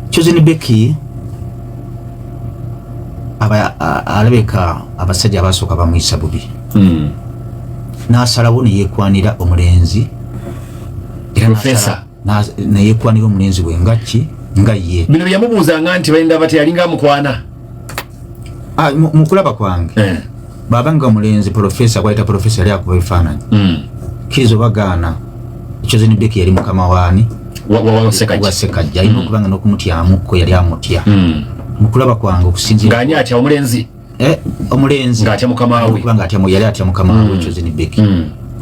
Chosen Becky aba alabeka abasajja abasooka bamuyisa bubi mm. n'asalawo neyekwanira omulenzi era neyekwanira omulenzi we ngakki nga ye bino byeyamubuuzanga nti bayinda bati yalinga amukwana ah, mu kulaba kwange eh. baba nga mulenzi profesa kwayita profesa yali akuba ebifaananyi hmm. kkiriza obagaana chosen beki yali mukama waani wasekajja alina hmm. okuba nga n'okumutyamuko yali amutya hmm. mu kulaba kwange okusinziraani atya omulenzi eh, omulenzi nga atya mukama we yali atya mukama we chosen beki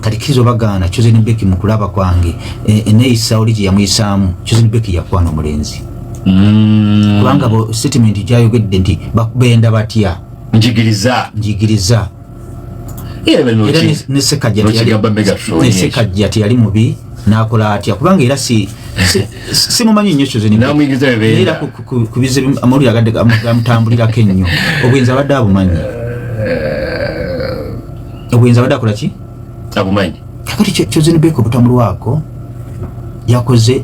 kati kizo bagaana chosen beki mukulaba kwange e, eneyisa oli gyeyamuyisaamu chosen beki yakwana omulenzi mm. kubanga bo statement gyayogedde nti bakubenda batya njigiriza njigiriza era nesekajja teyali mubi nakola atya kubanga era si simumanyi nnyo kyozeera kubize amawulire agadde gamutambulirako ennyo obwenzi abadde abumanyi eh, obwenzi abadde akola ki abumanyi kakati chosen beko butamulu wako yakoze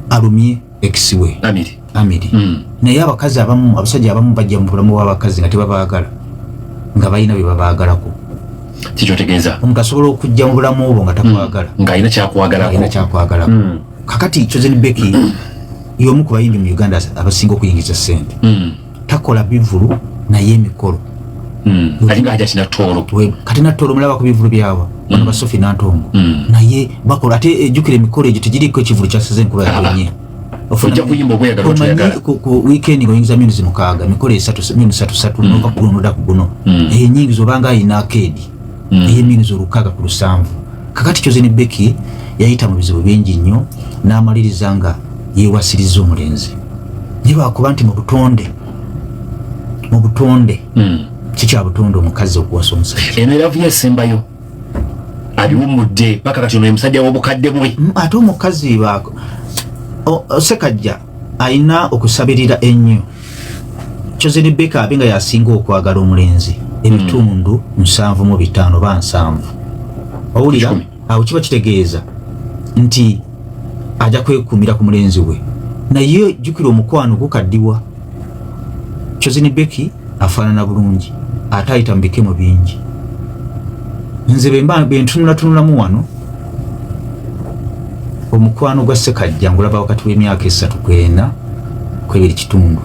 alumye ekiwe amiri amiri mm. naye abakazi abamu abasajja abamu bajja mu bulamu bw'abakazi nga tebabaagala nga balina bye babaagalako kikyotegeeza omuntu asobola okujja mu bulamu obwo nga takwagala mm. ng'alina kyakwagalako kyakwagalako mm. kakati chosen beki y'omu ku bayimbi mu uganda abasinga okuyingiza ssente mm. takola bivulu naye emikolo hmm. kati natolo mulaba ku bivulu byawa bano hmm. basofi nantongo hmm. naye bakola ate ejukira eh, emikolo egyo tegiriko ekivulu kyasize enkuba yaenye weekend ngaoyingiza minuzi mukaaga emikolo esatu minuzi satusatu nova kuguno noda ku guno enyingiza obanga ayina akeedi mm. ey'emyezi olukaaga ku lusanvu kakati kyoze ne beki yayita mu bizibu bingi nnyo n'amaliriza nga yeewasiriza omulenzi naye lwakuba nti mu butonde mu butonde mm. kikya butonde omukazi okuwasa omusajja eno eravuyo esembayo abiwumudde paka kati ono emusajja w'obukadde bwe mm, ate omukazi sekajja alina okusabirira ennyo kyoze ne beka abe nga yasinga okwagala omulenzi ebitundu hmm. nsanvu mu bitaano ba nsanvu owulira awo kiba kitegeeza nti ajja kwekumira ku mulenzi we naye jjukira omukwano gukaddiwa kyoze ne beki afaanana bulungi ate ayita mu bikemo bingi nze bemba bentunulatunulamu wano omukwano gwa sekajja ngulaba wakati w'emyaka esatu kwena kwebiri kitundu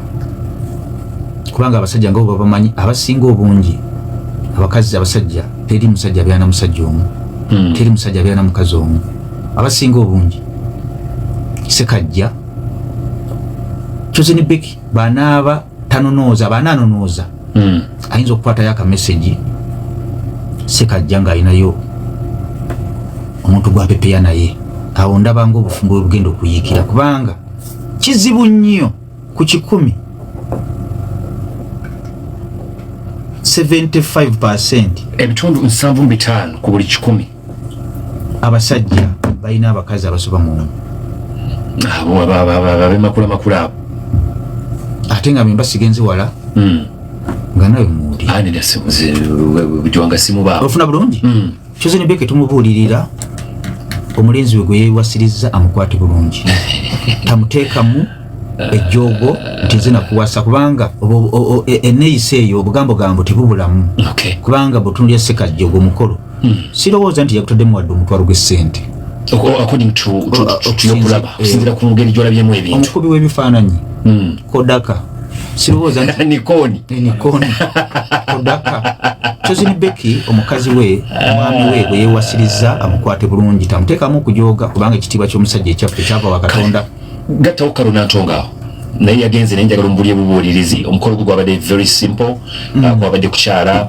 kubanga abasajja nga babamanyi abasinga obungi abakazi abasajja teri musajja abeera na musajja omu hmm. teri musajja abeera na mukazi omu abasinga obungi sekajja chosen beki banaaba tanonooza baana anonooza hmm. ayinza okukwatayo akamesegi sekajja ng'alinayo omuntu gwapepeya naye awo ndabanga obufumbo bwe bugenda okuyiikira kubanga kizibu nnyo ku kikumi 75 ebitundu 75 ku buli kikumi abasajja balina abakazi abasoba mu abemakula makula abo ate nga bemba sigenze wala hmm. nga nawe muliofuna bulungi hmm. kyoze nebeke tumubuulirira omulenzi we gwe yewasirizza amukwate bulungi tamuteekamu ejjoogo nti nze nakuwasa kubanga e, eneyisa eyo obugambogambo tebubulamu kubanga butunulya sekajja ogwo mukolo hmm. sirowooza nti yakutaddemu wadde omutwalo gw'essente okusinzira eh, ku ngeri gyolabyemu ebintu omukubi w'ebifaananyi hmm. kodaka sirowooza nti nikoni eh, nikoni kodaka Chosen Becky omukazi we mwami we bwe yewasiriza amukwate bulungi tamutekamu kujoga kubanga ekitiibwa ky'omusajja ekyaffe kyava wa Katonda gattawo Karuna Ntonga naye yagenze naye njagala omubulye bubuulirizi omukolo gwe gwabadde very simple mm. uh, gwabadde kukyala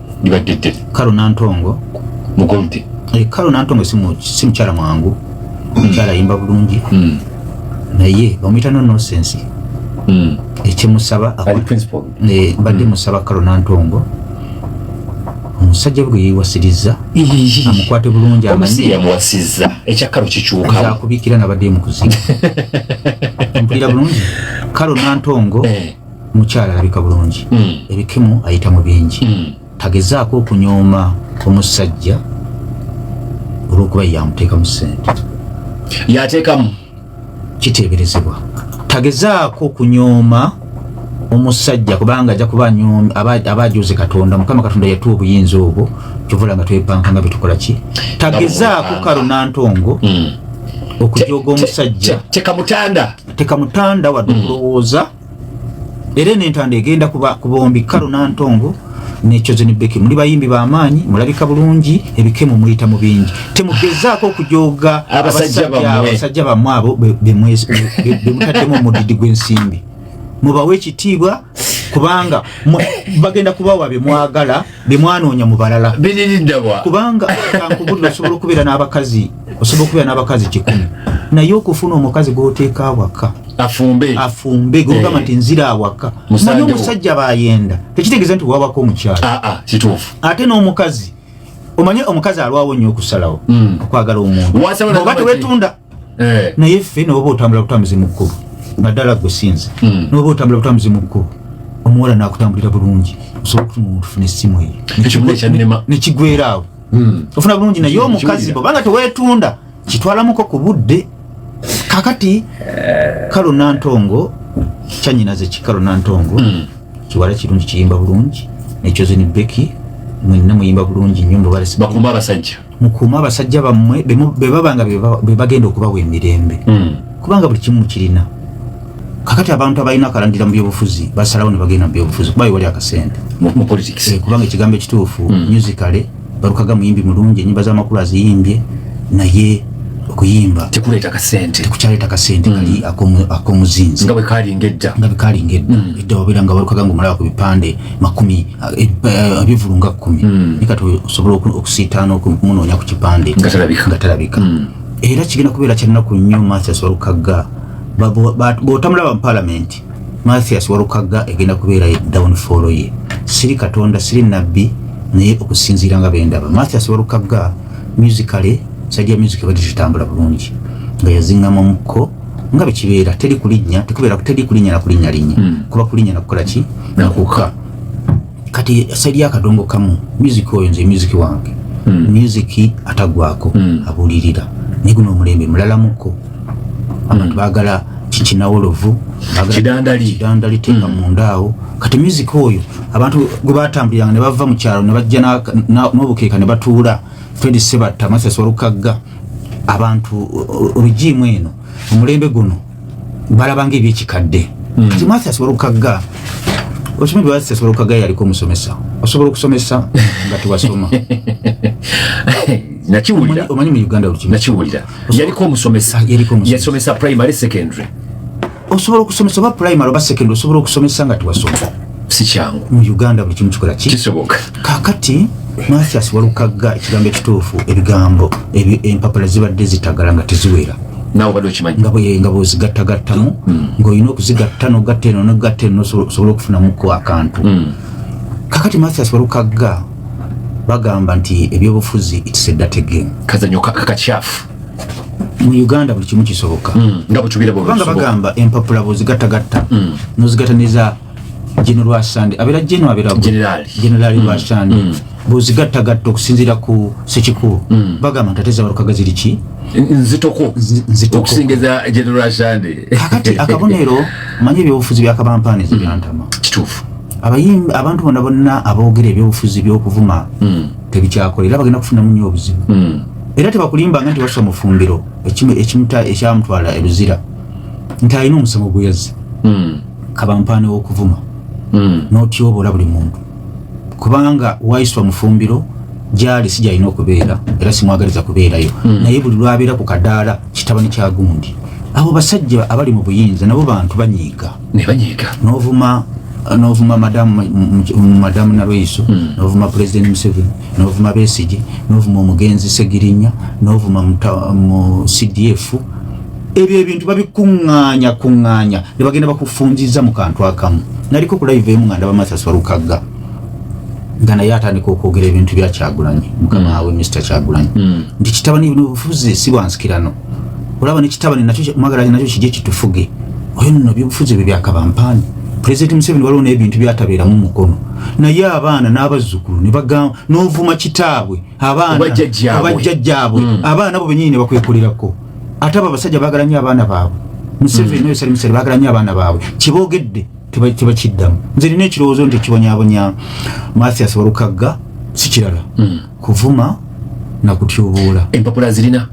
libadde ddene kalo nantongo mugolde eh, kalo nantongo si mukyala mwangu mukyala yimba bulungi hmm. naye bamuyita no nosensi hmm. ekyemusaba eh, mbadde hmm. musaba kalo nantongo omusajja bwe yeewasirizza amukwate bulungi amanyiyamuwasizza ekyakalo kikyukaakubikira nabadde mukuziga mpulira bulungi kalo nantongo eh. mukyala alabika bulungi mm. ebikimu ayita mu bingi mm. tagezaako okunyooma omusajja olwokuba yamuteekamu sente yateekamu kiteeberezebwa tagezaako okunyooma omusajja kubanga ajja kuba anyooma aba ajuze katonda mukama katonda yatuwa obuyinza obwo kyovula nga twepanka nga byetukola ki tagezaako kalo nantongo mm. okujoga omusajja tekamutanda tekamutanda wadde hmm. okulowooza era eno entanda egenda kuba ku bombi karo nantongo nekyozeni beki muli bayimbi bamaanyi mulabika bulungi ebikemu muyita mu bingi temugezaako okujooga abasajja bamwe abo bemutaddemu omudidi gw'ensimbi mubawe ekitiibwa kubanga bagenda kubawa bye mwagala bemwanoonya mu balala biririddawa kubanga kankubulira osobola okubeera n'abakazi osobola okubeera n'abakazi kikumi naye okufuna omukazi gwoteeka awaka afumbe afumbe gogamba eh. nti nzira awaka manya omusajja bayenda tekitegeeza nti wawako omukyalo ah, ah, kituufu ate n'omukazi omanye omukazi alwawo nnyo okusalawo hmm. okwagala omuntu oba tewetunda eh. naye ffe noba otambula butambuzi mu kkubo naddala gwe sinze hmm. noba otambula butambuzi mu kkubo omuwala nakutambulira bulungi osobola okutuma omuntu funa essimu eyo nekigwera awo hmm. ofuna bulungi naye omukazi bobanga tewetunda kitwalamuko ku budde kakati eh. kalo nantongo kyanyinaze kikalo nantongo hmm. kiwala kirungi kiyimba bulungi nekyoze ni beki mwenna muyimba bulungi nyo mubalesi bakumba abasajja mukuume abasajja bammwe bebaba nga bebagenda okubawa emirembe hmm. kubanga buli kimu mukirina kakati abantu abalina akalandira mu byobufuzi basalawo ne bagenda mu byobufuzi kuba wali akasente eh, kubanga ekigambo ekituufu hmm. musicale balukaga muyimbi mulungi enyimba z'amakulu aziyimbye naye okuyimba tekuleeta kasente tekukyaleeta kasente mm. kali akomuzinzi nga bwekalinga edda nga bwekalinga edda mm. edda wabeera nga walukaga nga omulaba ku bipande makumi ebivulu nga kkumi hmm. naye kati osobola okusiitaana okumunoonya ku kipande nga talabika hmm. era kigenda kubeera kyannaku nnyo mathias walukagga bw'otamulaba mu palamenti mathias walukagga egenda kubeera downfall ye siri katonda siri nabbi naye okusinziira nga bendaba mathias walukagga musicale sajja music ebadde kitambula bulungi nga yazingamu omukko nga bwe kibeera teri kulinnya tekubeera teri kulinnya na kulinnyalinnya hmm. kuba kulinnya nakukola ki nakuka kati saidi ya kadongo kamu music oyo nze music wange mm. music atagwako mm. abulirira ne guno omulembe mulala muko abantu mm. bagala kikinawolovu kidandali kidandali tenga mm. mundaawo kati music oyo abantu gwe batambuliranga ne bava mu kyalo ne bajja n'obukeeka ne batuula fred sebatta masasi walukagga abantu regimu eno omulembe guno balabanga ebyekikadde hmm. kati martha asobola okukagga okimanyi bwebazisa asobola okukagga yaliko omusomesa osobola okusomesa nga tewasoma nakiwulira omanyi mu uganda nakiwulira yaliko omusomesa yasomesa primary secondary osobola okusomesa oba primary oba secondary osobola okusomesa nga tewasoma sikyangu mu uganda buli kimu kikola ki kisoboka kakati mathias walukagga ekigambo ekituufu ebigambo empapula zibadde zitagala nga teziwera nga bwezigattagattamu mm. ngaolina okuzigatta nogatta eno nogatta eno nosobola okufunamuko akantu mm. kakati mathias walukagga bagamba nti ebyobufuzi its a dirty game kazanyo kakakyafu mu uganda buli kimu kisoboka hmm, nga bwekibirabanga bagamba empapula bwezigattagatta hmm. nozigata neza geno lwasande abeera geno abeeragenerali hmm. lwasande bwezigattagatta okusinziira ku sekikubo bagamba nti ate zabalukaga ziri ki nzitoko okusingiza geno lwasande kakati akabonero manye ebyobufuzi byakabampaani zibyantama kituufu abayimbi abantu bona bonna aboogera ebyobufuzi byokuvuma tebikyakola era bagenda kufunamu nyo obuzibu era tebakulimbanga nti wassa mufumbiro ekimuta ekyamutwala eluzira nti alina omusango gweyazze hmm. kabampaane wokuvuma hmm. notyobola buli muntu kubanga waiswa mufumbiro gyali si gyalina okubeera era simwagaliza kubeerayo hmm. naye buli lwabeera ku kadaala kitabani kyagundi abo basajja abali mu buyinza nabo bantu banyiiga ne banyiga novuma novuma madamu madamu nalweyiso hmm. novuma president museveni novuma besigi novuma omugenzi segirinya novuma mu cdf ebyo ebintu babikuŋŋaanya kuŋŋaanya ne bagenda bakufunziza mu kantu akamu naliko ku live emu nga ndaba mathas walukagga nga naye atandika okwogera ebintu bya kyagulanyi mukama hmm. wawe mr kyagulanyi hmm. nti kitabani bufuzi si bwansikirano olaba nekitabani nakyo mwagala nakyo kije kitufuge oyo nno byobufuzi ebyo byakabampaani pulezidenti museveni waliwo n'ebintu byatabeeramu mukono naye abaana n'abazzukulu nebagamba n'ovuma kitaabwe abaanabajjajjaabwe hmm. abaana bo benyini nebakwekolerako ate abo abasajja baagala nyo abaana baabwe museveni hmm. oyosali museveni baagala nyo abaana baabwe kyebogedde tebakiddamu nze nina ekirowoozo nti ekibonyabonya mathias walukagga sikirala hmm. kuvuma na kutyoboola empapula zirina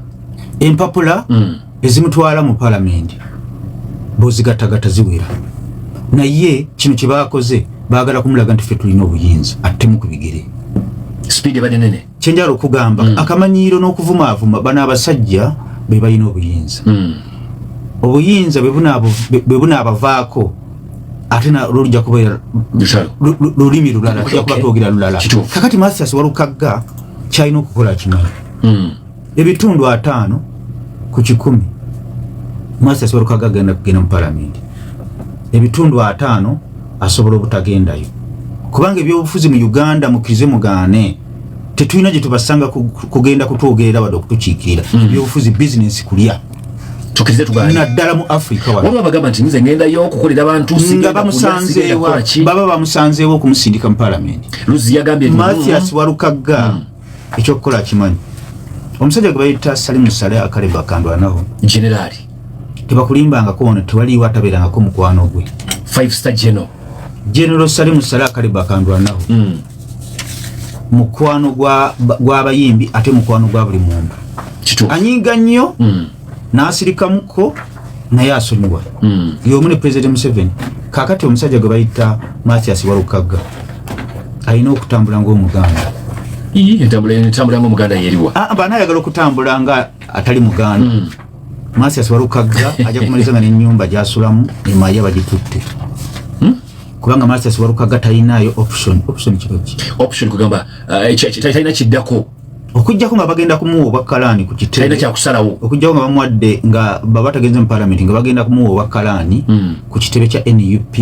empapula mm. ezimutwala mu palamenti bozigattagatta ziwera naye kino kye baakoze baagala kumulaga nti ffe tulina obuyinza attemu ku bigere sipiidi ebadde nene kye njala okugamba mm. akamanyiiro n'okuvumaavuma bano abasajja be balina obuyinza mm. obuyinza bwe bunaabavaako ate lolujja kubeera lulimi lulala tujja kuba twogera lulala kakati mathias walukagga kyalina okukola kimanyi hmm. ebitundu ataano ku kikumi mathias walukagga agenda kugenda mu palamenti ebitundu ataano asobola obutagendayo kubanga ebyobufuzi mu uganda mukirize mugaane tetulina gyetubasanga kugenda kutwogerera wadde okutukiikirira hmm. ebyobufuzi bizinesi kulya tukirize tugaane naddala mu afrika wano waba bagamba nti nze ngendayo okukolera abantu nga bamusanzeewo baba bamusanzeewo okumusindika mu palamenti luzi yagambye mathias mm. walukagga mm. ekyokukola kimanyi omusajja gwe bayita salimu sale akalemba akandwanawo generaali tebakulimbangako ono tewaliwo atabeerangako mukwano gwe five star general General Salim Salah Kaliba Kandwanaho mm. mukwano gw'abayimbi gwa ate mukwano gwa buli muntu anyinga nnyo mm. n'asirikamuko naye asonyiwa mm. y'omu ne President Museveni kakati omusajja gwe bayita Mathias Walukagga alina okutambula ng'omuganda entambula ng'omuganda yeriwa ah, bana ayagala okutambula nga atali muganda mm. Masias Walukagga ajja kumaliza nga n'ennyumba gy'asulamu emaye bagitutte hmm? kubanga Masias Walukagga talinaayo option option kiro ki option kugamba eh, talina kiddako okujjako nga bagenda kumuwa obwakkalaani ku kiteetalina kyakusalawo okujjako nga bamuwadde nga baba tagenze mu palamenti nga bagenda kumuwa obwakkalaani hmm. ku kitebe kya nup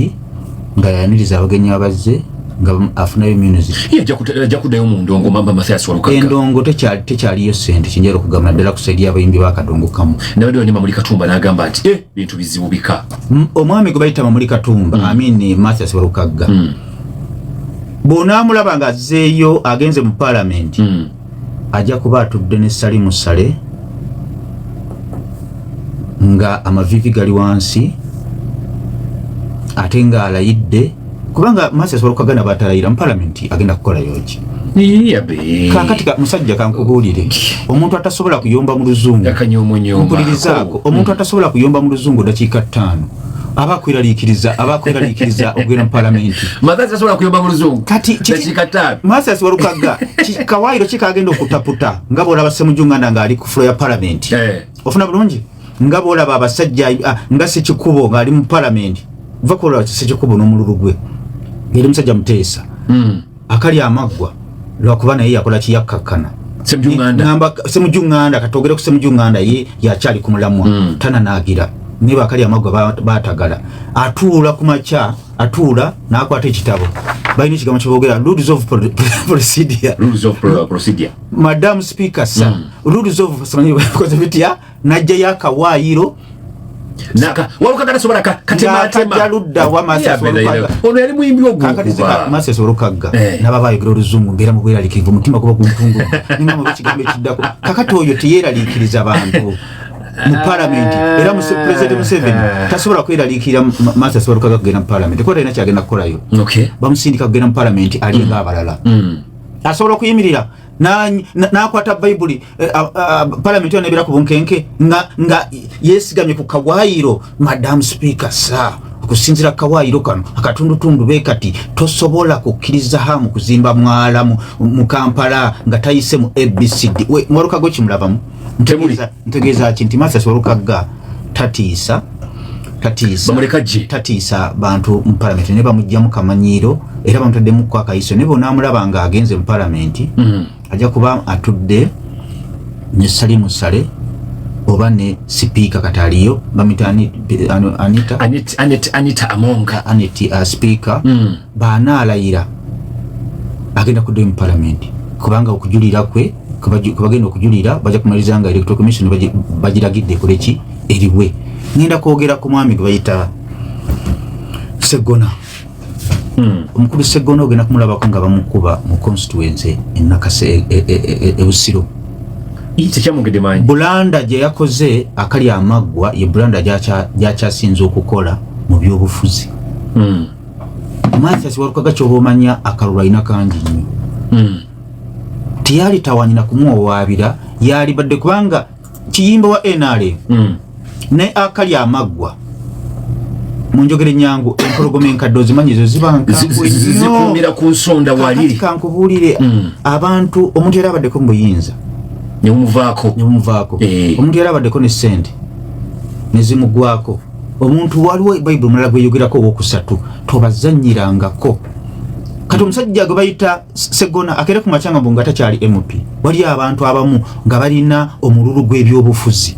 nga yaniriza abagenyi abazze nga afunayo music ajja kuddayo mu ndongo mamba mathias walukaga endongo tekyaliyo sente kinjera okugamba naddala ku saidi y'abayimbi bakadongo kamu nabadde wanyuma muli katumba n'agamba nti eh, bintu bizibu bika omwami gwe bayita mamuli katumba mm. amini mathias walukaga mm. bw'onaamulaba ng'azzeeyo agenze mu paalamenti mm. ajja kuba atudde ne salimu sale nga amavivi gali wansi ate nga alayidde kubanga masi asobola okukagana batalayira mu palamenti agenda kukola yoki kakati musajja kankubuulire omuntu atasobola kuyomba mu luzungu mpulirizaako omuntu atasobola kuyomba mu luzungu dakiika ttaano abakweraliikiriza abakweraliikiriza okugenda mu palamenti mathasi asobola kuyomba mu luzungu kati dakikataano mathasi walukagga kawayiro kikagenda okutaputa nga bwolaba semujunganda ng'ali ku fulo ya palamenti eh. ofuna bulungi nga bwolaba abasajja ah, nga sekikubo ng'ali mu palamenti va kuolaba sekikubo n'omululu gwe yali musajja muteesa hmm. akali amaggwa lwakuba naye yakola kiyakkakkana semujunganda katogere ku semujunganda ye yakyali ku mulamwa mm. tananaagira naye bakali amaggwa batagala atuula ku makya atuula n'akwata ekitabo balina ekigambo kyebogera rules of procedure madam speaker sa mm. rules of simanyi bakoze bitya najjayo akawaayiro ono yali muyimbi ogwokubamasesolokaga eh. naba bayogera oluzungu mbeera mubweraliikirivu omutima guba guntungu ninamu ekigambo ekiddako kakati oyo teyeraliikiriza bantu mu palamenti era president museveni eh. tasobola kweraliikirira masa asobola kukaga kugenda mu palamenti kuba talina kyagenda kukolayo bamusindika kugenda mu palamenti alinga mm. abalala mm. asobola okuyimirira n'akwata bayibuli eh, ah, ah, palamenti yo nebeera ku bunkenke nga yesigamye ku kawayiro madamu sipiika sa okusinzira kawayiro kano akatundutundu be kati tosobola kukkiriza hamu kuzimba mwala mu kampala nga tayise mu abcd mwalukago kimulabamu temuli ntegeeza ki nti Mathias Walukagga tatiisa tatiisa bamuleka gye tatiisa bantu mu palamenti ne bamugyamu kamanyiiro era bamutaddemu ku akayiso ne bonaamulaba nga agenze mu palamenti mm. ajja kuba atudde ne sali musale oba ne sipiika kati aliyo bamita anita anita amonga anita uh, sipiika mm. bw'anaalayira agenda kuddayo mu palamenti kubanga okujulira kwe kwebagenda okujulira bajja kumaliriza nga electoral commission bagiragidde ekoleki eriwe ngenda kwogera ku mwami gwe bayita segona hmm. omukulu segona ogenda kumulabako nga bamukuba mu constituency enakasa e, e, e, ebusiro bulanda gye yakoze akali amaggwa ye bulanda gyakyasinze okukola mu byobufuzi hmm. Mathias Walukaga kyoba omanya akalulu alina kangi nnyo hmm. teyali tawanyina kumuwawaabira yalibadde kubanga kiyimba wa nrm hmm. naye akali amaggwa munjogere nyangu empologoma enkadde ozimanyi ezo zibankazikumira ku nsonda wali kankubuulire hmm. abantu omuntu yali abaddeko mu buyinza nemuvaako nemuvaako eh. omuntu yali abaddeko ne ssente nezimugwako omuntu waliwo bayibuli mulala gweyogerako owokusatu tobazanyirangako kati omusajja gwe bayita segona akere ku makyanga mbu nga takyali mp waliyo abantu abamu nga balina omululu gw'ebyobufuzi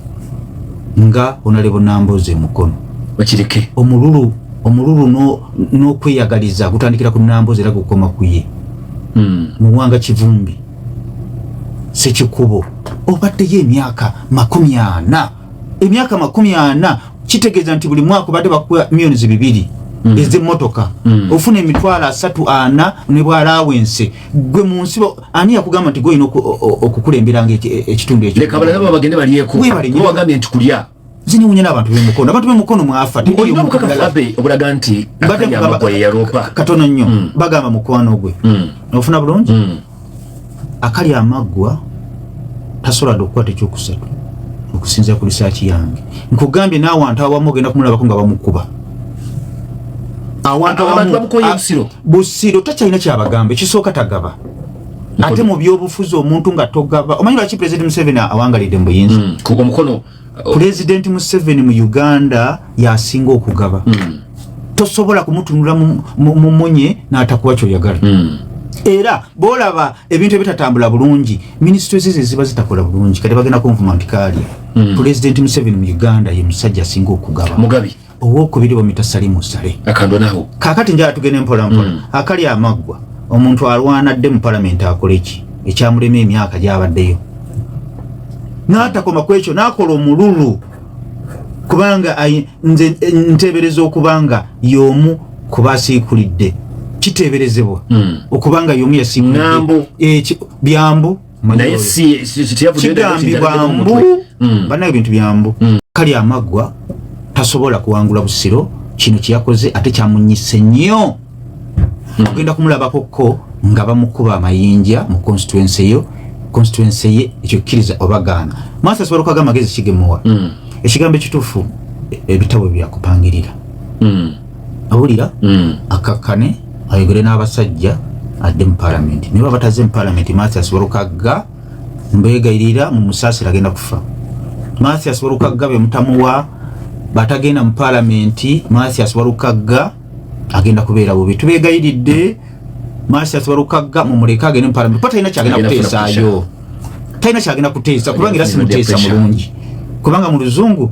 nga onalebo nambozi emukono bakireke omululu omululu n'okweyagaliza gutandikira ku nambozi era gukoma kuye hmm. muwanga kivumbi sekikubo obaddeyo emyaka makumi ana emyaka makumi ana kitegeeza nti buli mwaka obadde bakuwa millions bibiri mm. ez'emmotoka mm. ofuna emitwalo asatu ana ne bwalawense gwe mu nsi ani yakugamba nti golina okukulemberanga e-, ekitundu ekyowebalinti kulya zinewunya n'abantu bemukono abantu bemukono mwafa obulaga nti katono nnyo mm. bagamba mukwano gwe ofuna bulungi akali amaggwa tasobola dde okukwata ekyokusatu okusinzira ku lisaaki yange nkugambye n'awantu awamu ogenda kumulabako nga bamukuba awantu awamu busiro takyalina kyabagamba ekisooka tagaba ate mu byobufuzi omuntu nga togaba omanyi lwaki president museveni awangalidde mu buyinza hmm, omukono pulezidenti museveni mu uganda yasinga okugaba mm. tosobola kumutunula mumunye natakuwa kyoyagala mm. era bolaba ebintu ebitatambula bulungi minisitule zize ziba zitakola bulungi kati bagenda kunvuma nti kaalya mm. pulezidenti museveni mu uganda ye musajja asinga okugaba mugabi owokubiri omitasali musale akandonaho kakati njala tugende mpola mpola mm. akali amaggwa omuntu alwana dde mu palamenti akoleki ekyamulema emyaka gyabaddeyo n'atakoma ku ekyo n'akola omululu kubanga nze nteebereza okubanga y'omu ku basiikulidde kiteeberezebwa hmm. okubanga y'omu yasiikulidde byambu naye kigambibwa mbu mm. banaye ebintu byambu mm. kali amaggwa tasobola kuwangula busiro kino kyeyakoze ate kyamunyise nnyo mm. ogenda kumulabako ko nga bamukuba amayinja mu constituency yo constituency ye ekyo kkiriza obagaana maasa asobola okuaga amagezi kigemuwa ekigambo ekituufu ebitabo byakupangirira awulira mm. akakkane ayogere n'abasajja adde mu palamenti naye babataze mu palamenti mathias walukagga mbegayirira mu musaasira agenda kufa mathias walukagga bemutamuwa batagenda mu palamenti mathias walukagga agenda kubeera bubi tubegayiridde mathias walukagga mumuleke agende mu palamenti kuba talina kyagenda kuteesaayo talina kyagenda kuteesa kubanga era simuteesa mulungi kubanga mu luzungu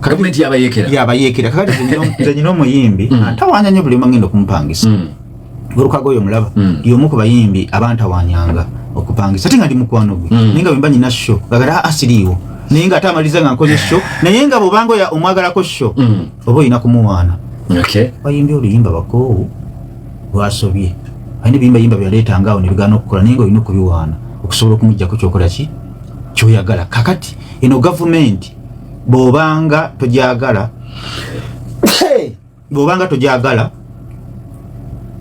gavumenti yabayekera yabayekera kakati zenyina omuyimbi mm. antawanya nyo buli omangenda okumupangisa mm. olukaga oyo mulaba mm. yomu ku bayimbi abantawanyanga okupangisa ate nga ndi mukwano gwe naye nga bwemba nyina sho gagala asiriiwo ah, ah, naye nga ate amaliza nga nkoze sho naye nga bwobanga oya omwagalako sho oba olina kumuwaana bayimbi oluyimba bakoowu lwasobye ayina ebiyimba yimba byaleetanga awo nebigaana okukola naye nga olina okubiwaana okusobola okumujjako kyokola ki kyoyagala kakati eno gavumenti bw'obanga togyagala bw'obanga togyagala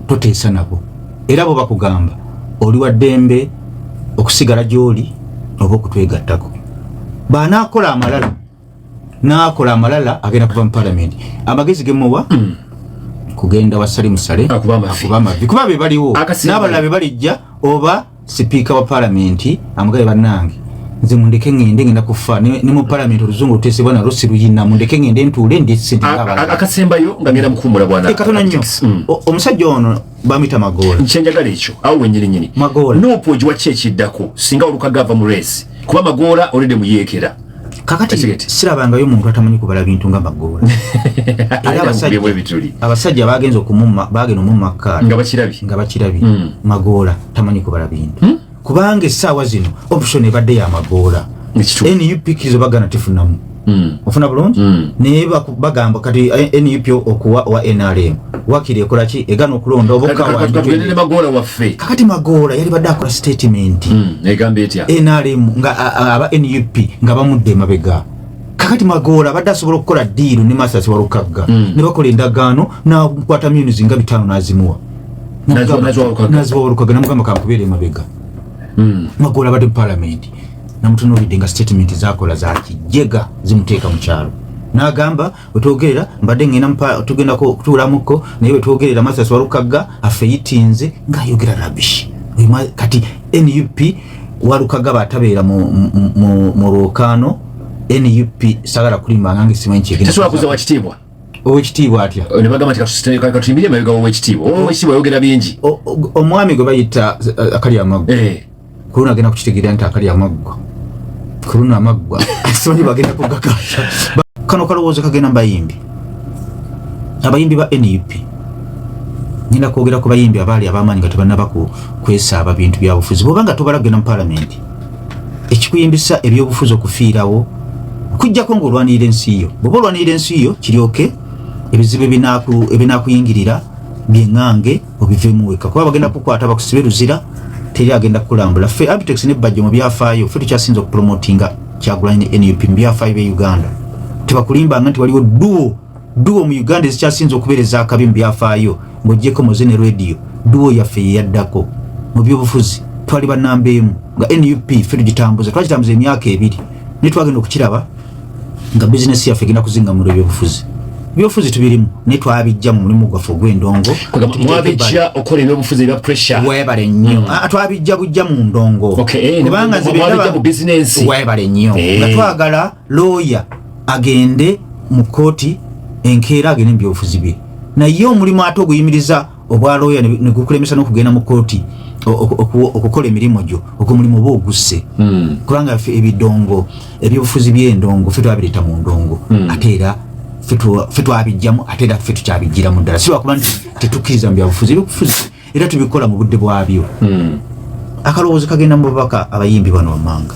toteesa nabo era bwe bakugamba oli wa ddembe okusigala gy'oli oba okutwegattako banakola amalala nakola amalala agenda kuva mu palamenti amagezi gemuwa hmm. kugenda wa Salim Saleh akuba amavi kuba be baliwo n'abalala be balijja oba Sipiika wa palamenti amugaye bannange nze mundeke ngende ngenda kufa ne mu palamenti oluzungu lutesebwa nalwo siruyina mundeke ngende ntuule ndi akasembayo nga ngenda mukumbula bwana katona nnyo mm. omusajja ono bamuyita magoola kyenjagala ekyo awo wenyini nyini magoola nuupu ogiwa ki ekiddako singa olukaga ava mu reesi kuba magoola olede muyeekera kakati sirabangayo omuntu atamanyi kubala bintu nga magoola era abasajja bagenze okumumma bagenda omumma kaala nga bakirabi nga bakirabi hmm. magoola tamanyi kubala bintu hmm? kubanga essaawa zino option ebadde ya magoola nup kizo bagana tifunamu Mm. ofuna bulungi mm. naye bagamba kati eh, nup okuwa owa nrm wakiri ekolaki egana okulonda obokawamagoola waffe kakati magoola yali badde akola statement mm, egamba etya nrm nga aba nup nga bamudde emabega kakati magoola abadde asobola okukola diiru ne masasi walukagga ne bakola endagaano nakwata munis nga bitaano nazimuwa naziwa walukagga namugamba kankubeera emabega magoola abadde mu palamenti namutunuulidde nga statement zakola za kijega zimuteeka mu kyalo n'agamba wetwogerera mbadde ŋŋenda tugendako okutuulamukko naye wetwogerera masasi walukagga afeyitinze ng'ayogera rabishi kati nup walukagga batabeera mu lwokaano nup sagala kulimba ngange simanyi kyegendasobola kuza wakitiibwa owekitiibwa atya oh, nebagamba nti katuyimbire emabega wowekitiibwa owekitiibwa oh. ayogera bingi omwami gwe bayita eh, akali amagu eh. Kuluna agenda kukitegeera nti akali amaggwa. Kuluna amaggwa. Simanyi bagenda kugakasha. Kano kalowoozo kagenda mbayimbi. Abayimbi ba NUP. Ngenda kwogera ku bayimbi abaali ab'amaanyi nga tebannaba kwesaaba bintu bya bufuzi. Bw'oba nga tobala kugenda mu palamenti, ekikuyimbisa ebyobufuzi okufiirawo kujjako ng'olwanirira ensi yo. Bw'oba olwanirira ensi yo, kiryoke ebizibu ebinakuyingirira bye ŋŋange. obivemu weka kuba bagenda kukwata bakusibe luzira teri agenda kulambula fe abitex ne budget mu byafayo fe tukyasinza okupromotinga kyagulanyi ne nup mu byafayo be uganda tebakulimba nga nti waliwo duo duo mu uganda ezikyasinza okubereza akabi mu byafayo ngojeko moze ne radio duo yaffe yeyaddako mu byobufuzi twali banamba emu nga nup fe tugitambuza twakitambuza emyaka ebiri naye twagenda okukiraba nga business yaffe egenda kuzinga mu byobufuzi byofuzi tubirimu ne twabijja mu mulimu gwaffe ogw'endongo mwabijja okola ebyobufuzi ebya pressure webale nnyo mm. ah, twabijja bujja mu ndongo eh, kubanga nzebijja mu bizinensi webale nnyo eh. nga twagala looya agende mu kkooti enkeera agende mu byobufuzi bye naye omulimu ate oguyimiriza obwa looya ne gukulemesa n'okugenda mu kooti okukola emirimu gyo ogwo mulimu oba ogusse hmm. kubanga ffe ebidongo ebyobufuzi by'endongo ffe twabireta mu ndongo hmm. ate era ffe twabijjamu ate era ffe tukyabijjiramu ddala si lwakuba nti tetukkiriza mu byabufuzi ebyobufuzi era tubikola mu budde bwabyo hmm. akalowoozo kagenda mu babaka abayimbi bano wammanga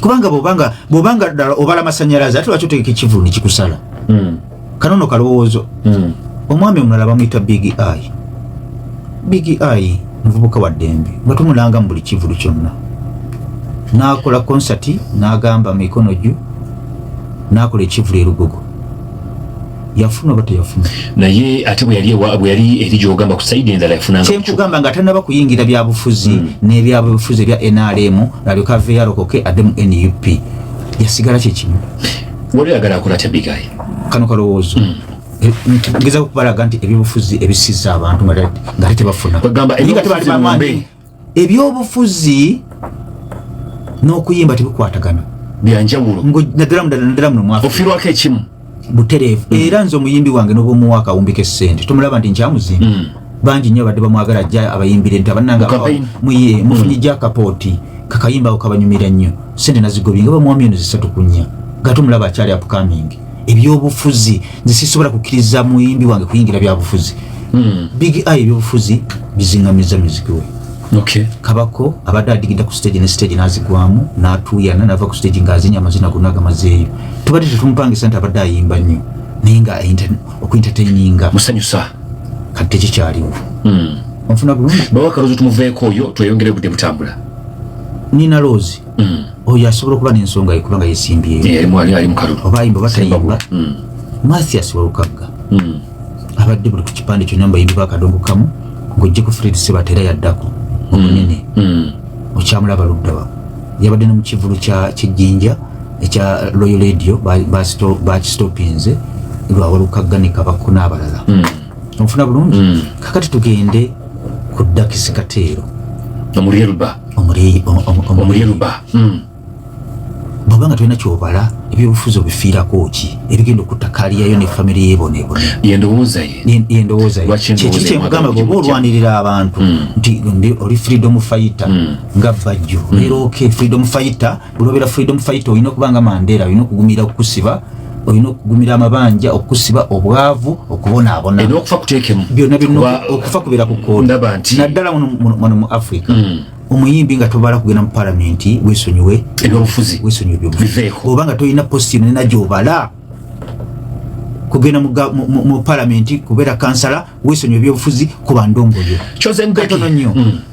kubanga bobanga bobanga dala obala masanyalaze ate lwaki otegeka ekivulu nekikusala mm. kanono kalowoozo mm. omwami omulala bamuyita big eye big eye muvubuka wa ddembe nga tumulanga mu buli kivulu kyonna n'akola konsati n'agamba mikono gyo n'akola ekivulu erugogo yafuna oba teyafuna naye ate bwe yali ewa bwe yali eri gyogamba ku sayidi endala yafuna nga kyekugamba nga tanaba kuyingira byabufuzi mm. n'ebyabufuzi ebya nrm nalyoka ave yalokoke adde mu nup yasigala kyekimu wali oyagala akola tya bigayi kano kalowoozo mm. eh, ngeza okubalaga nti ebyobufuzi ebisiza abantu nga tebafuna ebyobufuzi n'okuyimba tebikwatagana byanjawulo naddala mudala naddala muno mwaka ofirwako ekimu butereevu mm. era nze omuyimbi wange n'obwomuwa akawumbiko essente tomulaba nti nkyamuzimba mm. bangi nnyo abadde bamwagala ajja abayimbire nti abananga muye mufunye mm. gyakapooti kakayimba ako kabanyumira nnyo sente nazigobye nga bamwami eno zisatu kunya gatomulaba akyali apukamingi ebyobufuzi nze sisobola kukkiriza muyimbi wange kuyingira byabufuzi hmm. big i ebyobufuzi bizingamiza muziki we okay. kabako abadde adigida ku stage ne stage nazigwamu natuuyana nava ku stage ngaazinya amazina gonna agamazeeyo tubadde tetumupangisa nti abadde ayimba nnyo naye nga okuentertaininga musanyusa kati tekikyaliwo hmm. onfuna bulungi bawakaluzi tumuveeko oyo tweyongere budde butambula nina loozi mm. oyo asobola okuba n'ensonga ye kubanga yesimbyeyo eh, oba ayimba oba tayimba mm. mathias walukagga mm. abadde buli ku kipande kyonna mbayimbi bakadongo kamu ng'ojje ku fred sebata era yaddako omunene okyamulaba luddawa yabadde ne mu kivulu kyejjinja ekya loyo radio bakistopinze lwawalukagga ne kabakko n'abalala onfuna bulungi mm. kakati tugende ku dakisi kateero omulyerba omulyerba mm. bwaba nga tulina kyobala ebyobufuzi obifiirako ki ebigenda okutta kaliyayo ne famire yebonaebonayendowoozayekyekikigamba bwoba olwanirira abantu mm. nti oli freedom fighter nga bajjo leero oke freedom fighter bulobera freedom fight olina okuba nga mandela olina okugumira okusiba olina okugumira amabanja okusiba obwavu okubonaabona okufa kutekemu byonna byonna okufa kubera ku koona naddala muno mu africa mm. omuyimbi nga tobala kugenda mu palamenti wesonyiwe ebyobufuzi wesonyiwe ebyobufuzi oba nga tolina posti yona ena gyobala kugenda mu palamenti kubeera kansala wesonyiwe ebyobufuzi kuba ndongoyo kyoze mpetono nnyo mm.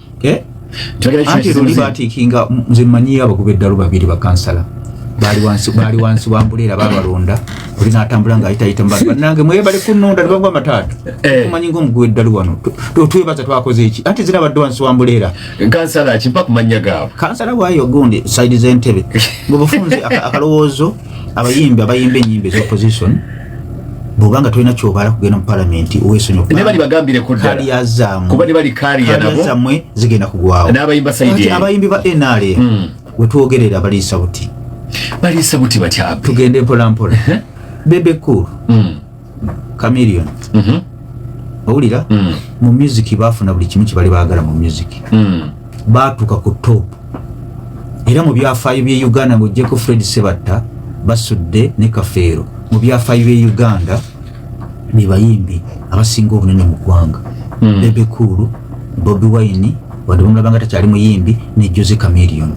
eh? anti luli batikinga nze manyiyo abagoba eddalu babiri bakansala baali wansi baali wansi wa mbuleera babalonda oli natambula nga ayitayita mubali banange mwebale kunonda nebagwa amataata eh. tumanyi ngaomuguwa eddalu wano twebaza twakoze eki anti zina badde wansi wa mbuleera kansala kimpa kumanya gaabo kansala waayo gundi saidi z'entebe bwebufunze akalowoozo abayimbi abayimba enyimba ezopposition bwobanga tolina kyobala kugenda mu palamenti owesonyokubazaamwe zigenda kugwawoabayimbi ba nra hmm. wetwogerera baliisa buti baliisa buti batya tugende mpolampola bebe cool hmm. camilion mhm. owulira hmm. mu music bafuna buli kimu kibali bagala mu music baatuuka ku top era mu byafaayo by'e uganda ng'ogyeko fred sebatta basudde ne kafeero mu byafaayo by'e uganda be bayimbi abasinga obunene mu ggwanga hmm. bebe kuulu bobi wine wadde bamulabanga takyali muyimbi ne jose camerion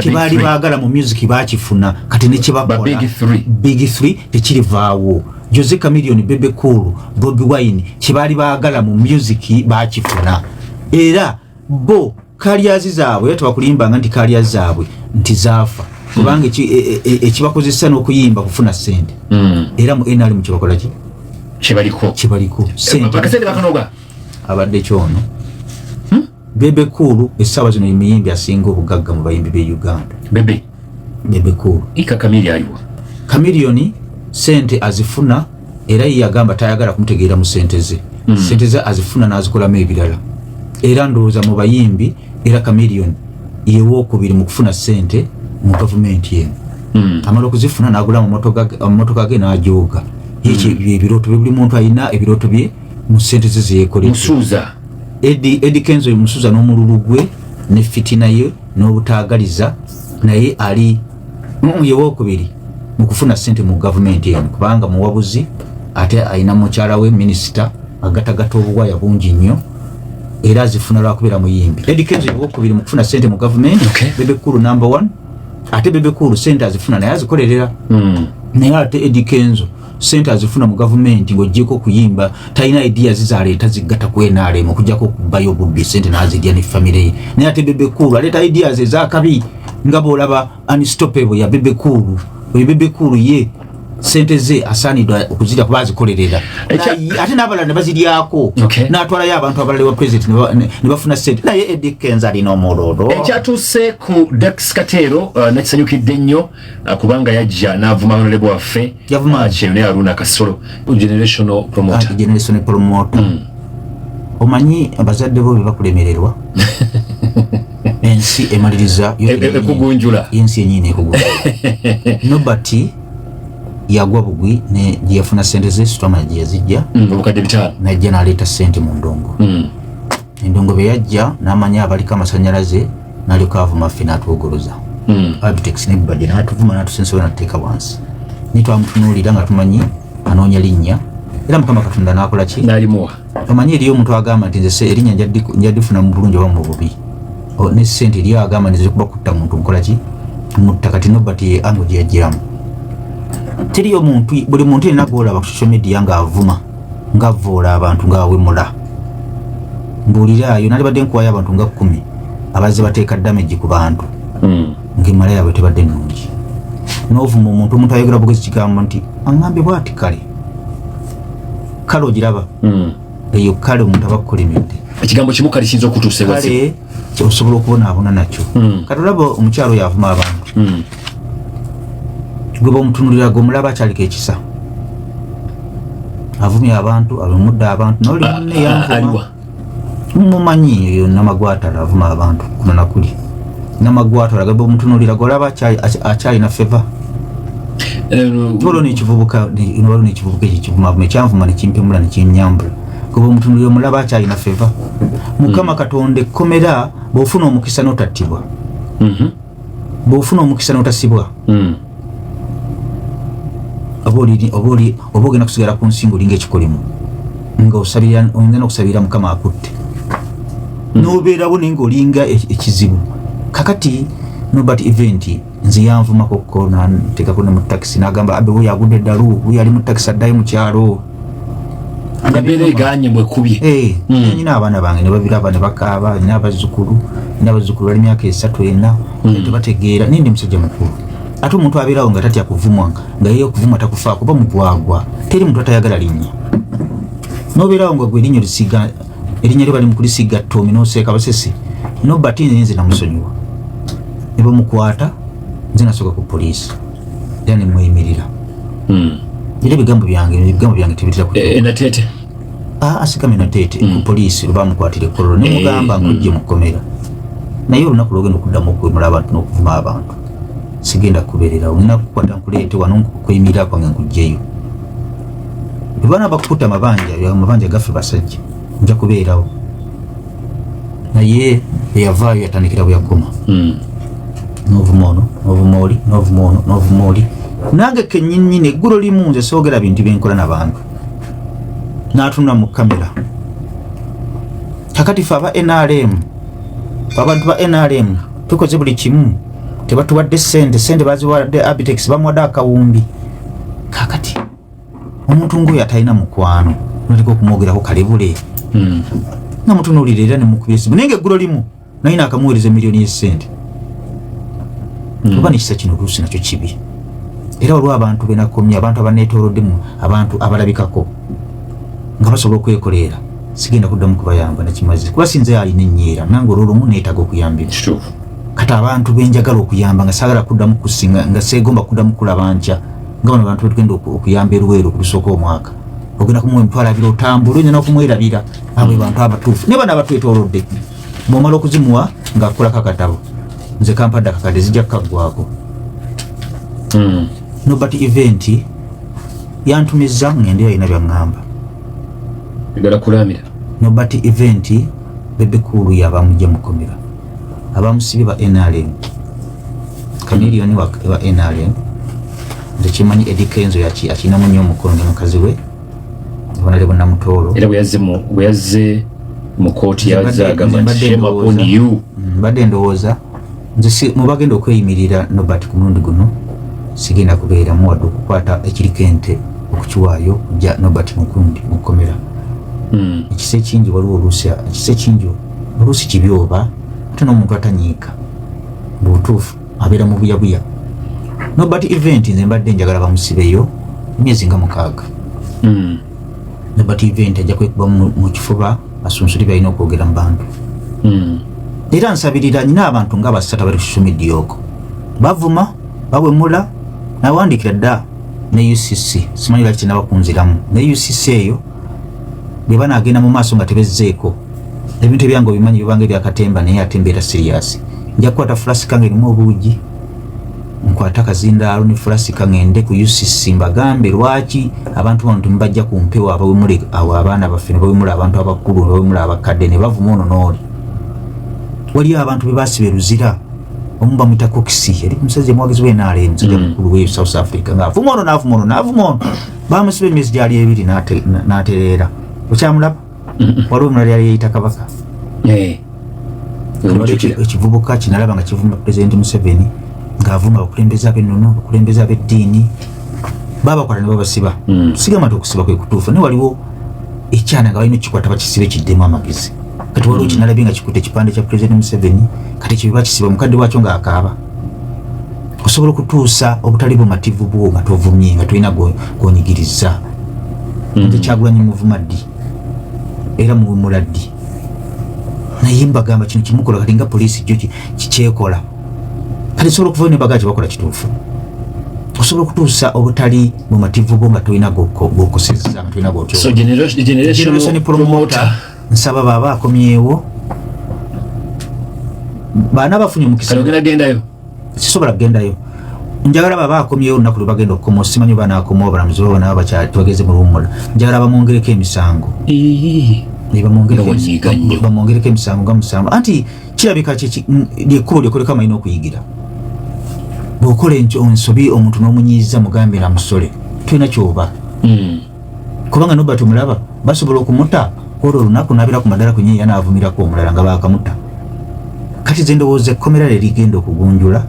kyebaali baagala mu music bakifuna kati nekyebakola big 3 tekirivaawo jose camerion bebe kuulu bobi wine kyebaali baagala mu music bakifuna era bo kalyazi zaabwe era tebakulimbanga nti kalyazi zaabwe nti zaafa kubanga e, e, e, ekibakozesa n'okuyimba kufuna sente hmm. era mu nrm kyebakolaki kibaliko kibaliko abadde kyono hmm? bebe kuulu essaawa zino yemuyimbi asinga obugagga mu bayimbi be uganda Bebe Cool. Ika Kamili aliwa? Kamilioni sente azifuna era yeye agamba tayagala kumutegeera mu sente ze. Mm. Sente ze azifuna n'azikolamu ebirala. Era ndowooza mu bayimbi era Kamilioni yewookubiri mu kufuna sente mu gavumenti eno. Mm. Amala okuzifuna n'agula mu mmotoka ge n'ajooga. Mm. Yekyo ebirooto bye buli muntu alina ebirooto bye mu sente ze zeyekoledde. Musuuza. Edi, Edi Kenzo musuuza n'omululu gwe ne fitina ye. n'obutaagaliza naye ali muye wokubiri mu kufuna ssente mu gavumenti eno kubanga muwabuzi ate alina mukyala we minisita agatagata obuwaya bungi nnyo era azifuna lwakubeera muyimbi edikenzo yewokubiri mu kufuna ssente mu gavumenti okay. bebekulu number one ate bebekulu ssente azifuna naye azikolerera mm. naye ate edikenzo sente azifuna mu gavumenti ng'ogyeko okuyimba talina idiya zizaleeta ziggata ku nrm okujjako okubayo obubbi sente n'azirya ne famire ye naye ate bebekuulu aleeta idiya ze ezakabi nga bw'olaba anistopebo ya bebekuulu oyo bebekuulu ye sente ze asaanidwa okuzirya kuba azikolerera ate n'abalala ne baziryako n'atwalayo abantu abalala ewa president ne bafuna sente naye edikenza alina omulolo ekyatuuse ku dax kateero uh, nakisanyukidde nnyo Ah, kubanga yajja n'avuma honorable waffe ah, kyeyune aruna kasolo generational promoter ah, hmm. omanyi abazadde bo bebakulemererwa ensi emaliriza e, e, ekugunjula ensi enyini ekugunjula nobert yagwa bugwi ne gyeyafuna sente ze sitwamana gyeyazijja hmm, obukadde bitaano najja naleeta sente mu ndongo hmm. Endongo bwe yajja n'amanya abaliko amasannyalaze n'alyoka avuma ffe n'atuwogoloza hmm. abitex nebbajja n'atuvuma n'atusensola n'atuteeka wansi naye twamutunuulira nga tumanyi anoonya linnya era mukama katonda n'akola ki n'alimuwa omanyi eriyo omuntu agamba nti nze erinnya njadifuna mu bulungi oba mu bubi ne ssente eriyo agamba nti zikuba kutta muntu nkola ki mutta kati nobati ye ango gye yajjiramu teriyo muntu buli muntu yenna gwolaba ku social media ng'avuma ngavvoola abantu ng'awemula mbuuliraayo nalibadde nkuwayo abantu nga kkumi abazze bateeka damage ku bantu hmm. ng'emala yaabwe tebadde nnungi n'ovuma omuntu omuntu ayogera bugezi kigambo nti aŋambye bwati kale kale ogiraba hmm. eyo kale omuntu aba kukolemedde ekigambo kimu kale kiyinza okutuusa kale osobola okubonaabona nakyo hmm. kati olaba omukyalo yavuma abantu gwe bamutunulira gwe omulaba akyaliko ekisa avumye abantu alumudde abantu noli ah, munne ah, yanvuma mumanyi eyo namagwatala avuma abantu kuno nakuli namagwatala gaba omutunulira golaba akyalina feva olwo nekivubuka waliwo nekivubuka ekyo kivumavuma ekyanvuma nekimpemula nekyenyambula goba omutunulira omulaba akyalina feva mukama hmm. katonda ekkomera bwofuna omukisa notattibwa mhm. bwofuna omukisa notasibwa mm. oba ogenda kusigala ku nsi ngaolinga ekikolimo nga osabira oyinza nokusabira mukama akutte mm. nobeerawo naye ngaolinga e-, ekizibu kakati nobert event nze yanvumako ko nantekako ne mu takisi nagamba abe wuyo agudde eddalu wuyo ali mu takisi addayo mu kyalo embeera eganye mwekubye eh, hmm. nyina abaana bange nebabiraba nebakaaba nina abazzukulu nina abazzukulu bali myaka esatu ena hmm. tebategeera naye ndi musajja mukulu ate omuntu abeerawo nga tatya kuvumwa nga yeye okuvumwa takufaa kuba mugwagwa teri muntu atayagala linnya nobeerawo nga gwe erinnyo lisiga erinnya lyo bali mukulisiga ttomi noseeka basese nobati nze namusonyiwa nebamukwata nze nasooka ku poliisi era ne mweyimirira hmm. era ebigambo byange ebigambo byange tebitera ku eh, natete ah, asikame natete hmm. ku poliisi lwe bamukwatira ekkololo ne mugamba eh, ng'ojje mu kkomera naye olunaku lwogenda okuddamu okwemula abantu n'okuvuma abantu sigenda kubererawo nina kukwata nkuleete wano okweyimirira kwange nkugjeyo bwe bana bakukuta amabanja amabanja gaffe basajja nja kubeerawo naye eyavaayo yatandikira bweyakoma hmm. novuma ono novuma oli novuma ono novuma oli nange kenyinnyini eggulu limu nze soogera bintu byenkola nabantu natunula mu kamera kakati fe aba nrm abantu ba nrm tukoze buli kimu tebatuwadde sente sente baziwadde abitex bamuwadde akawumbi kakati omuntu ng'oyo atalina mukwano noteka okumwogerako kalebule hmm. nga mutunuulira era nemukubya esimu naye nga eggulo limu naye naakamuweereza emiliyoni y'essente hmm. oba nekisa kino oluusi nakyo kibi era waliwo abantu benakomye abantu abanetooloddemu abantu abalabikako nga basobola okwekoleera sigenda kuddamu kubayamba nakimazi kuba sinze alina ennyiira nange olwolumu neetaaga okuyambira kati abantu benjagala okuyamba nga sagala kuddamu kusinga nga seegomba kuddamu kulaba nkya nga bano bantu betugenda okuyamba eruweero okulusooka omwaka ogenda kumuwa emitwalo abiri otambula oyina nokumwerabira abo bantu abatuufu naye bano abatwetolodde bwomala okuzimuwa ngaakukolako akatabo nze kampadde akakadde zijja kukaggwako hmm. nobert event yantumizza ngende yalina byaŋŋamba nobert event bebekulu yabamujja mukomera abamusibye ba nrm kamiliyoni wa nrm tekimanyi edikenzo yaki akinamu nyo omukono ne mukazi we bonale bonamutoolo era bweyazze mu kooti yazagamba nti shema upon you mbadde ndowooza nze mubagenda okweyimirira nobert ku mulundi guno sigenda kubeeramu wadde okukwata ekiriko ente okukiwaayo kujja nobert mukundi mukomera hmm. ekisa ekingi waliwo oluusi ekisa ekingi oluusi kibi oba ate n'omuntu atanyiika mu butuufu abeera mu buyabuya nobert event nze mbadde njagala bamusibeyo emyezi nga mukaaga hmm. nobert event ajja kwekuba mu kifuba asunsuli balina okwogera mu bantu hmm. era nsabirira nyina abantu nga basatu abali social media oko bavuma bawemula nawandikira dda ne ucc simanyi laki nabakunziramu ne ucc eyo bwe banaagenda mu maaso nga tebezzeeko ebintu ebyange obimanyi bibanga ebyakatemba naye ate mbeera siriyasi nja kukwata fulasika nga erimu obuugi nkwata akazindaalo ne fulasika ngende ku ucc mbagambe lwaki abantu bano temubajja ku mpewo abawemule awo abaana baffe ne bawemula abantu abakulu ne bawemula abakadde ne bavuma ono n'oli waliyo abantu be basiba eruzira omu bamwita kokisi yali omusajja omwogezi w'enaala emusajja mm. mukulu w'e south africa ng'avuma ono n'avuma ono n'avuma ono bamusiba emyezi gyali ebiri natereera okyamulaba waliwo omulala yali yeyita kabaka eh. ekivubuka kinalaba nga kivuma pulezidenti museveni ngaavuma abakulembeze abenono abakulembeze abeddiini babakwata nebabasiba hmm. sigamba nti okusiba kwekutuufu naye waliwo ekyana nga balina okukikwata bakisibe kiddemu amagezi kati waliwo kinalabye nga kikuta ekipande kya pulezidenti museveni kati kibiba kisiba mukadde wakyo ngaakaaba osobola okutuusa obutali bumativu bwo nga tovumye nga tolina gonyigiriza hmm. nze kyagulanyi muvuma ddi era muwumula ddi naye mbagamba kino kimukola kati nga poliisi jo kikyekola kati sobola okuvayo nebagaa kyebakola kituufu osobola okutuusa obutali bumativu bwo nga tolina gokoseza nga tolina gotyo nsaba baba akomyewo baana bafunye omukisa ogenda gendayo sisobola kugendayo njagala baba akomyewo olunaku lwe bagenda okukoma osimanyi oba naakoma obulamuzi baba nabo bakyatwageze mu luwummula njagala bamwongereko emisango bamwongereko emisango nga musango anti kirabika lyekkubo lyokoleko amanyi n'okuyigira bwokola ensobi omuntu n'omunyiiza mugambe na musole tulina kyoba hmm. kubanga noba tumulaba basobola okumuta olwo olunaku nabira ku madala kwenye yanaavumirako omulala nga bakamuta kati ze ndowooza ekkomera lye ligenda okugunjula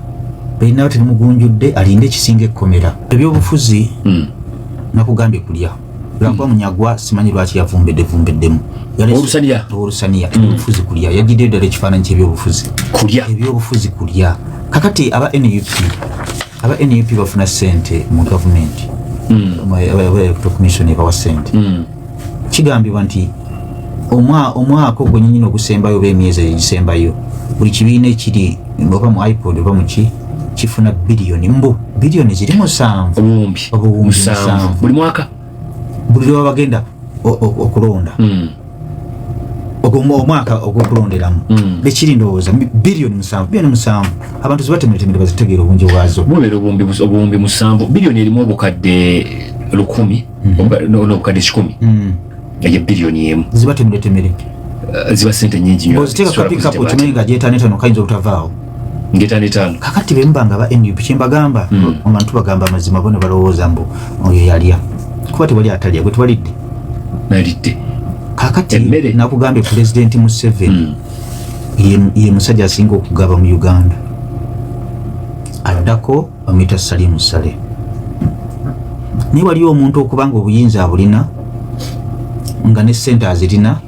berinaba terimugunjudde alinde ekisinga ekkomera ebyobufuzi hmm. nakugambye kulya lwakuba hmm. munyagwa simanyi lwaki yavumbedde vumbeddemu olusaniya olusaniya hmm. ebyobufuzi kulya yajjiddeyo ddala ekifaananyi kyebyobufuzi kulya ebyobufuzi kulya kakati aba nup aba nup bafuna sente mu gavumenti hmm. commission ebawa sente hmm. kigambibwa nti omwaka ogwenyini ogusembayo oba emyezi egisembayo buli kibiina ekiri oba mu ipod oba muki kifuna biliyoni mbu biliyoni ziri musanvu obuwumbi musanvu buli mwaka buli lwebaba bagenda okulonda hmm. omwaka ogwokulonderamu hmm. bekiri ndowooza biliyoni musanvu biliyoni musanvu abantu zibatemeretemere bazitegeera obungi bwazo bubera obuwumbi musanvu biliyoni erimu obukadde lukumi hmm. nobukadde kikumi eyo biliyoni emu zibatemeretemere eh, ziba sente nyingi nyo oziteeka kapikapu kimanyi nga gyetanetano kayinza obutavaawo ngeta netaano kakati bemba nga ba nup kyembagamba hmm. abantu bagamba amazima bona balowooza mbu oyo yalya kuba tewali atalya gwe twalidde nalidde kakati emmere nakugambye pulezidenti museveni hmm. ye musajja asinga okugaba mu uganda addako bamuyita salimu sale naye waliyo omuntu okubanga obuyinza abulina nga ne sente azirina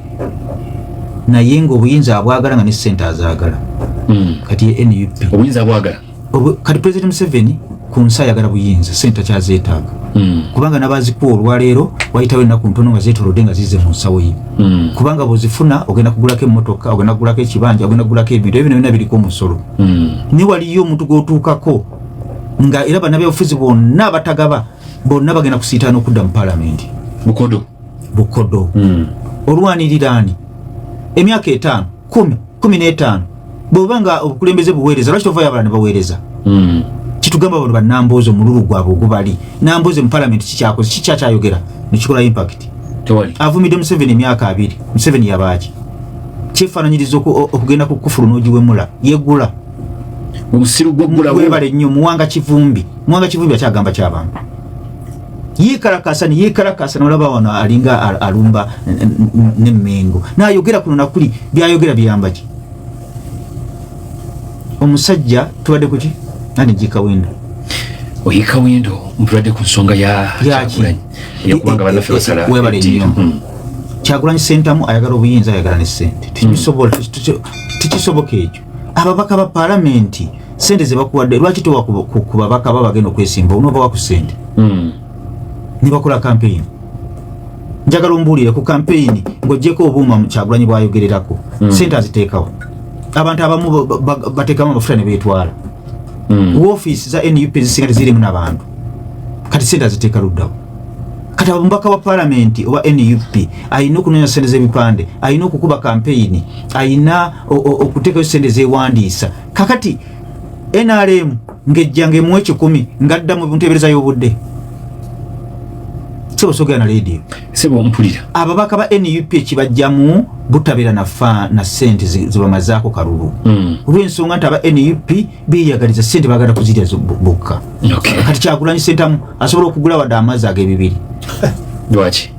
naye nga obuyinza abwagala nga ne sente azagala hmm. kati nup obuyinza abwagala kati president museveni ku nsi ayagala buyinza sente akyazeetaaga hmm. kubanga nabazikuwa olwaleero wayitawo ennaku ntono nga zeetolodde nga zize mu nsawo ye hmm. kubanga bwezifuna ogenda kugulako emmotoka ogenda kugulako ekibanja ogenda kugulako ebintu ebyo byona biriko omusolo naye waliyo omuntu gwotuukako nga era banabyabufuzi bonna batagaba bonna bagenda kusiitaana okudda mu palamenti bukodo bukodo mm. olwaniriraani emyaka etaano kumi kumi n'etaano bweoba nga obukulembeze buweereza lwaki tovayo abalala ne baweereza mm. kitugamba bano banambuuza omululu gwabwe ogubali nambuuza mu palamenti kikyakoze kikyakyayogera nekikola impact avumidde museveni emyaka abiri museveni yabaaki kyefaananyiriza okugenda ku kufulu n'ogiwemula yegula omusiru gwegulawebale nnyo muwanga kivumbi muwanga kivumbi akyagamba kyabantu yekarakasa neyekarakasa nolaba wano alinga alumba nemengo nayogera kuno nakuli byayogera biyambaki omusajja tubadde kuki ani jikawendo oyikawendo mpulwadde ku nsonga yakyagulanyi yakubanga banaffe basala webale nnyo hmm. kyagulanyi sentamu ayagala obuyinza ayagala ne sente tekisobola hmm. tekisoboka ekyo ababaka ba palamenti sente zebakuwadde lwaki towa ku babaka ba bagenda okwesimba onobawa ku sente hmm. nebakola kampeyini njagala ombuulire ku kampeyini ng'ogyeko obuuma mukyagulanyi bwayogererako hmm. sente aziteekawo abantu abamu bateekamu amafuta ne beetwala hmm. wofiisi za nup ezisinga tezirimu nabantu kati sente aziteeka luddawo kati abamubaka wa palamenti owa nup alina okunoonya sente z'ebipande alina okukuba kampeyini alina okuteekayo sente zewandiisa kakati nrm ngejja ngaemu ekikumi ngadda mu ntebereza y'obudde sebo sogera na leediyo sebo ompulira ababaka ba nup ekibajjamu butabeera nafa na sente zibamazaako kalulu hmm. olw'ensonga nti aba nup beyagaliza sente bagala kuzirya bokka kati kyagulanyi sentamu asobola okugula wadde amazzi ag'ebibiri lwaki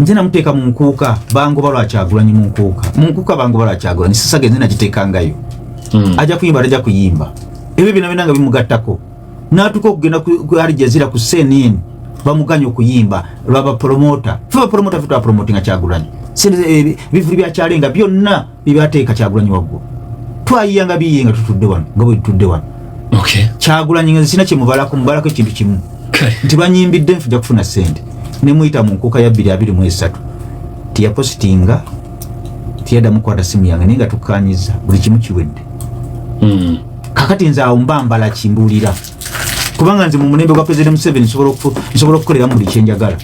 nze namuteeka mu nkuuka bangoba lwa kyagulanyi mu nkuuka mu nkuuka bangoba lwa kyagulanyi sisaga enze nagiteekangayo hmm. ajja kuyimba tajja kuyimba ebyo byona byona nga bimugattako natuuka okugenda ku alijazira ku cnn bamuganya okuyimba lwaba promota fe bapromota fe twapromotinga kyagulanyi ebivuli eh, byakyalenga byonna bibateeka kyagulanyi waggulu twayiya nga biyiye nga tutudde wano nga bwe tutudde wano kyagulanyi nga zisina kyemubalako mubalako ekintu kimu nti banyimbidde nfuja kufuna sente nemuyita mu nkuuka ya bbiri abiri mu esatu tiyapositinga tiyadamu kwata simu yange naye nga tukkanyiza buli kimu kiwedde hmm. kakati nze awo mba mbala kimbuulira kubanga nze mu mulembe gwa president museven nsobola okukoleramu buli kyenjagala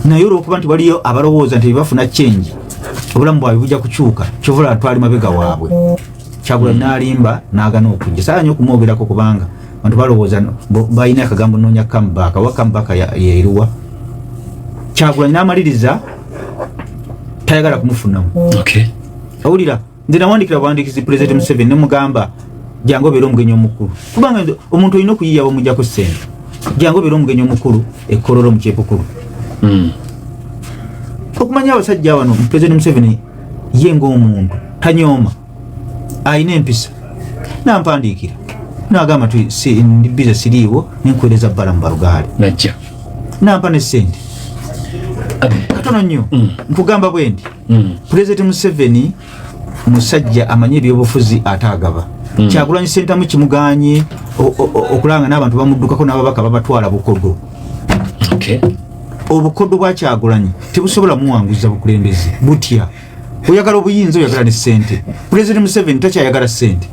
naye olwokuba nti waliyo abalowooza nti bebafuna change obulamu bwabwe bujja kukyuka kyovula twali mabega waabwe kyagula hmm. nalimba nagana okujja saa nyo okumwogerako kubanga bantu balowooza balina akagambo nonya kamubaka wa kamubaka yeriwa kyagula namaliriza tayagala kumufunamu owulira nze nawandikira buwandikizi pulezidenti museveni nemugamba jangu obeere omugenyi omukulu kubanga omuntu olina okuyiya bamujjako sente jangu obeere omugenyi omukulu ekololo mukyepukulu hmm. okumanya abasajja wano pulezidenti museveni ye ngaomuntu tanyooma alina empisa nampandiikira nagamba nti ndi biza siriiwo nenkuwereza bbala mu balugaali nampa ne sente katono nnyo hmm. nkugamba bwendi mm. president museveni musajja amanye ebyobufuzi ate agaba mm. kyagulanyi sentamu kimuganye okulanga n'abantu bamuddukako n'ababaka babatwala bukodo okay. obukodo bwakyagulanyi tebusobola muwanguza bukulembeze butya oyagala obuyinza oyagala ne sente president museveni takyayagala sente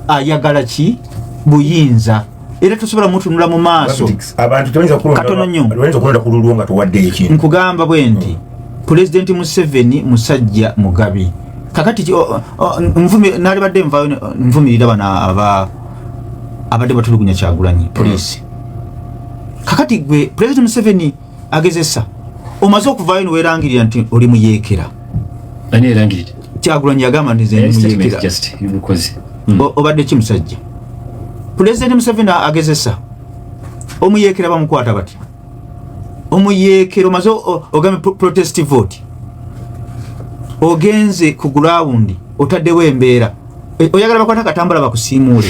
ayagala ki buyinza era tosobola mutunula mu maaso katono nyo nkugamba bwe nti hmm. pulezidenti museveni musajja mugabi kakati nalibadde nvumirira bano abadde batulugunya kyagulanyi polisi hmm. kakati gwe pulezidenti museveni agezesa omaze okuvayo niwerangirira nti oli muyekera kyagulanyi yagamba nti zenimuyekera hmm. obadde ki musajja pulezidenti museveni agezesa omuyekera bamukwata bati omuyekera omaze ogambe protest vote ogenze ku gulawundi otaddewo embeera e, oyagala bakwata katambula bakusiimuule